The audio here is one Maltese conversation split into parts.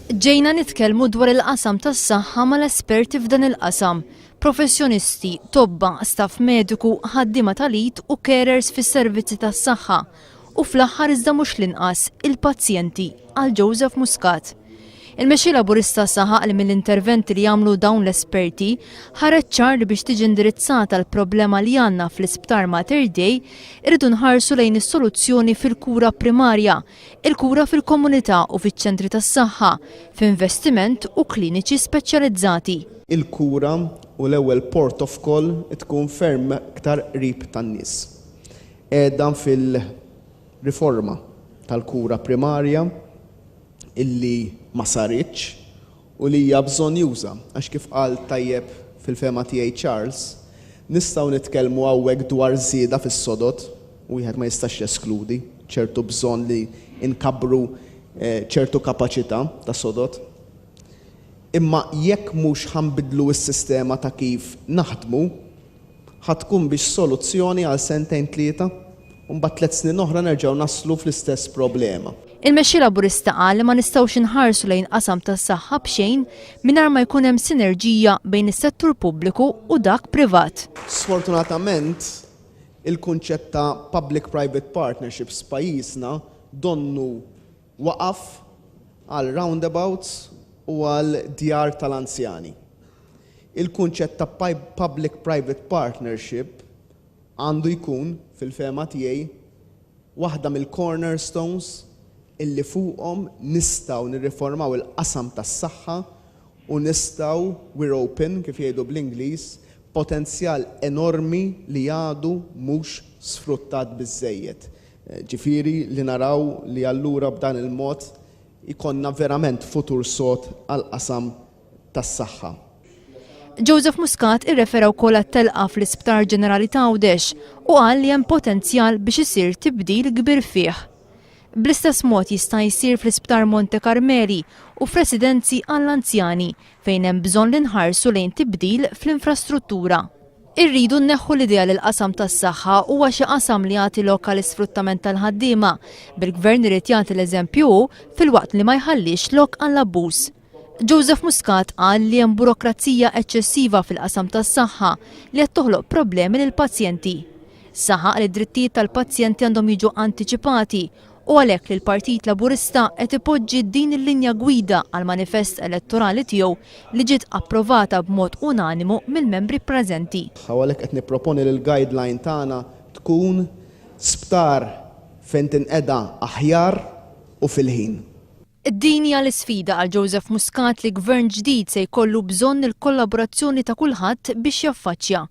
Ġejna nitkellmu dwar il-qasam tas-saħħa mal-esperti f'dan il-qasam, professjonisti, tobba, staff mediku, ħaddiema tal-id u carers fis-servizzi tas-saħħa u fl-aħħar iżda mhux l-inqas, il-pazjenti, qal Joseph Muscat. Il-Mexxej Laburista saħaq li mill-interventi li għamlu dawn l-esperti, ħareġ ċar li biex tiġi indirizzata l-problema li għandna fl-Isptar Mater Dei, irridu nħarsu lejn is-soluzzjoni fil-kura primarja, il-kura fil-komunità u fiċ-ċentri tas-saħħa, f'investiment u kliniċi speċjalizzati. Il-kura u l-ewwel port of call tkun ferm iktar qrib tan-nies. Qiegħda fil-riforma tal-kura primarja, illi ma saritx u li hija bżonjuża għax kif qal tajjeb fil-fehma tiegħi Charles, nistgħu nitkellmu hawnhekk dwar żieda fis-sodod, wieħed ma jistax jeskludi ċertu bżonn li nkabbru ċertu kapaċità ta' sodod. Imma jekk mhux ħa nbiddlu s-sistema ta' kif naħdmu, Ħa tkun biex soluzzjoni għal sentejn tlieta, u mbagħad tliet snin oħra nerġgħu naslu fl-istess problema. Il-Mexxej Laburista qal li ma nistgħux inħarsu lejn qasam tas-saħħa b'xejn mingħajr ma jkun hemm sinerġija bejn is-settur pubbliku u dak privat. Sfortunatament, il-kunċett ta' public-private partnerships f'pajjiżna donnu Waqaf għal roundabouts u għal djar tal-anzjani. Il-kunċett ta' public-private partnership għandu jkun, fil-fehma tiegħi, waħda mill-cornerstones illi fuqhom nistgħu nirriformaw il-qasam tas-saħħa u nistgħu we're open, kif jgħidu bl-Ingliż, potenzjal enormi li għadu mhux sfruttat biżżejjed. Ġifieri li naraw li allura b'dan il-mod ikollna verament futur sod għall-qasam tas-saħħa. Joseph Muscat irrefera wkoll għat-telqa fl-Isptar Ġenerali t'Għawdex u qal li hemm potenzjal biex isir tibdil kbir fih. Bl-istess mod jista' jsir fl-Isptar Monte Karmeli u f'residenzi għall-anzjani fejn hemm bżonn li nħarsu lejn tibdil fl-infrastruttura. Irridu nneħħu l-idea li l-qasam tas-saħħa huwa xi qasam li jagħti lok għal isfruttament tal-ħaddiema, bil-Gvern irid jagħti l-eżempju hu filwaqt li ma jħallix lok għall-abbuż. Joseph Muscat qal li hemm burokrazija eċċessiva fil-qasam tas-saħħa li qed toħloq problemi lill-pazjenti. Saħaq li d-drittijiet tal-pazjenti għandhom jiġu antiċipati u għalhekk li l-Partit Laburista qed ipoġġi din il-linja gwida għall-manifest elettorali tiegħu li ġiet approvata b'mod unanimu mill-membri preżenti. U għalhekk qed nipproponi li l-guideline tagħna tkun sptar fejn tinqeda aħjar u fil-ħin. Din hija l-isfida għal Joseph Muscat li Gvern ġdid se jkollu bżonn il-kollaborazzjoni ta' kulħadd biex jaffaċċja.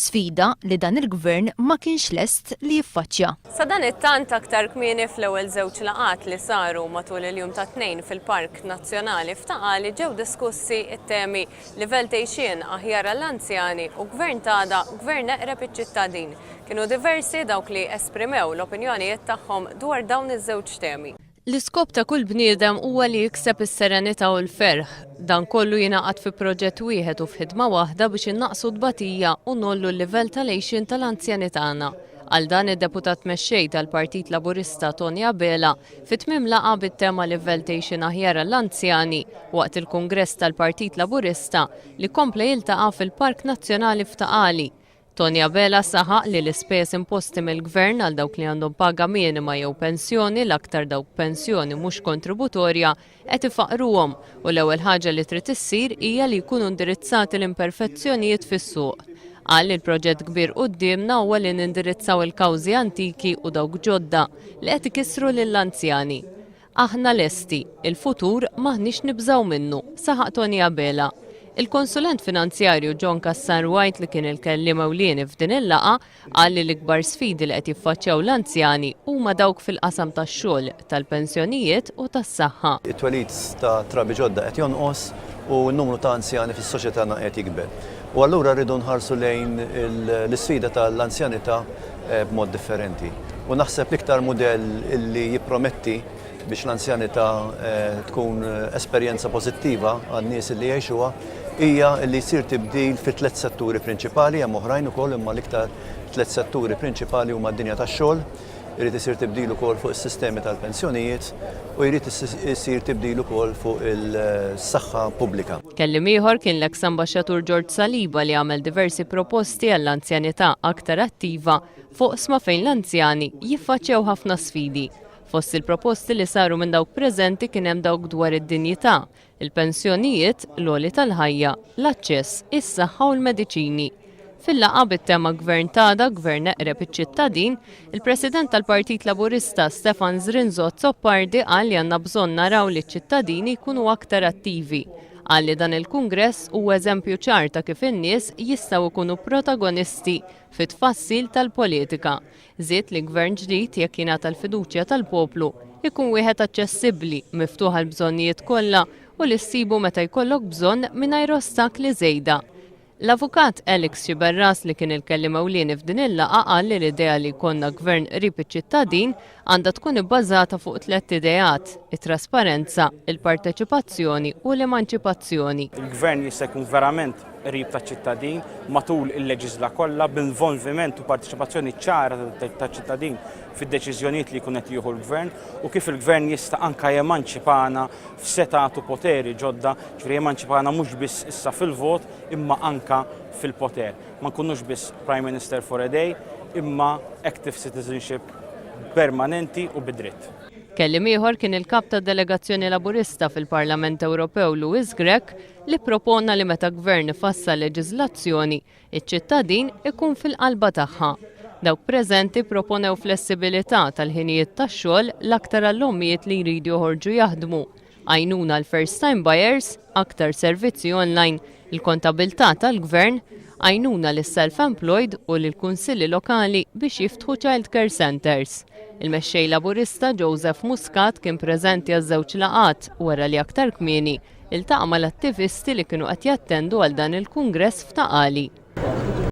Sfida li dan il-Gvern ma kienx lest li jiffaċċja. Sadanittant aktar kmieni fl-ewwel żewġ laqgħat li saru matul il-jum tat-Tnejn fil-Park Nazzjonali f'Ta' Qali ġew diskussi t-temi Livell t'għixien aħjar għall-anzjani u Gvern t'għada, Gvern eqreb iċ-ċittadin. Kienu diversi dawk li esprimew l-opinjonijiet tagħhom dwar dawn iż-żewġ temi. L-iskop ta' kull bniedem huwa li jikseb is-serenità u l-ferħ. Dan kollu jingħaqad fi proġett wieħed u f'ħidma waħda biex innaqqsu t-tbatija u ngħollu l-livell tal-għixien tal-anzjani tagħna. Għal dan id-Deputat Mexxej tal-Partit Laburista Tony Abela fi tmiem laqgħa bit-tema Livell t'Għixien Aħjar għall-Anzjani waqt il-Kungress tal-Partit Laburista li kompla jiltaqa' fil-Park Nazzjonali f'Ta' Qali Tony Abela saħaq li l-ispejjeż imposti mill-Gvern għal dawk li għandhom paga minima jew pensjoni, l-aktar dawk b'pensjoni mhux kontributorja, qed ifaqqruhom u l-ewwel ħaġa li trid issir hija li jkunu indirizzati l-imperfezzjonijiet fis-suq. Qal li l-proġett kbir quddiemna huwa li nindirizzaw il-kawżi antiki u dawk ġodda li qed ikissru lill-anzjani. Aħna lesti, il-futur m'aħniex nibżgħu minnu, saħaq Tony Abela. Il-konsulent finanzjarju John Cassar White li kien il-kelliem ewlieni f'din il-laqgħa qal li l-ikbar sfidi li qed jiffaċċjaw l-anzjani huma dawk fil-qasam tax-xogħol, tal-pensjonijiet u tas-saħħa. It-twelid ta' trabi ġodda qed jonqos u n-numru ta' anzjani fis-soċjetana qed jikber. U allura rridu nħarsu lejn l-isfida tal-anzjanità b'mod differenti. U naħseb l-iktar mudell li jipprometti biex l-anzjanità tkun esperjenza pożittiva għan-nies li jgħixuha hija li jsir tibdil fi tliet setturi prinċipali, hemm oħrajn ukoll imma l-iktar tliet setturi prinċipali huma d-dinja tax-xogħol, irid isir tibdil ukoll fuq is-sistemi tal-pensjonijiet u jrid isir tibdil ukoll fuq is-saħħa pubblika. Kelliem ieħor kien l-eks Ambaxxatur George Saliba li għamel diversi proposti għall-anzjanità aktar attiva f'oqsma fejn l-anzjani jiffaċċjaw ħafna sfidi. Fost il-proposti li saru minn dawk preżenti kien hemm dawk dwar id-dinjità, il-pensjonijiet, l-għoli tal-ħajja, l-aċċess, is-saħħa u l-mediċini. Fil-laqgħa bit-tema Gvern t'Għada, Gvern Eqreb iċ-Ċittadin, il-President tal-Partit Laburista Stefan Zrinzo Azzopardi qal li għandna bżonn naraw li ċ-ċittadini jkunu aktar attivi. Qal li dan il-kungress huwa eżempju ċar ta' kif in-nies jistgħu jkunu protagonisti fit-tfassil tal-politika. Żied li Gvern ġdid, jekk jingħata l-fiduċja tal-poplu, ikun wieħed aċċessibbli, miftuħ għall-bżonnijiet kollha u li ssibu meta jkollok bżonn mingħajr ostakli żejda. L-Avukat Alex Sciberras li kien il-kelliem ewlieni f'din il-laqgħa qal li l-idea li jkollna Gvern qrib iċ-ċittadin għandha tkun ibbażata fuq tlett ideat, it-trasparenza, il-parteċipazzjoni u l-emanċipazzjoni. Il-Gvern jista' jkun verament qrib taċ-ċittadin matul il-leġiżla kollha b'involviment u parteċipazzjoni ċara taċ-ċittadin fid-deċiżjonijiet li jkun qed jieħu l-Gvern u kif il-Gvern jista' anke jemanċipana f'setgħat u poteri ġodda Jiġifieri emanċipana mhux biss issa fil-vot imma anke fil-poter. Ma nkunux biss Prime Minister for a day imma active citizenship permanenti u bi dritt. Kelliem ieħor kien il-Kap tad-Delegazzjoni Laburista fil-Parlament Ewropew Louis Grech li ppropona li meta Gvern ifassal leġiżlazzjoni, iċ-ċittadin ikun fil-qalba tagħha. Dawk preżenti proponew flessibilità tal-ħinijiet tax-xogħol l-aktar għall-ommijiet li jridu joħorġu jaħdmu, għajnuna għal first-time buyers, aktar servizzi online, il-kontabilità tal-Gvern, għajnuna lis-self-employed u lill-Kunsilli Lokali biex jiftħu childcare centres. Il-Mexxej Laburista Joseph Muscat kien preżenti għaż-żewġ laqgħat wara li aktar kmieni iltaqa' mal-attivisti li kienu qed jattendu għal dan il-kungress f'Ta' Qali.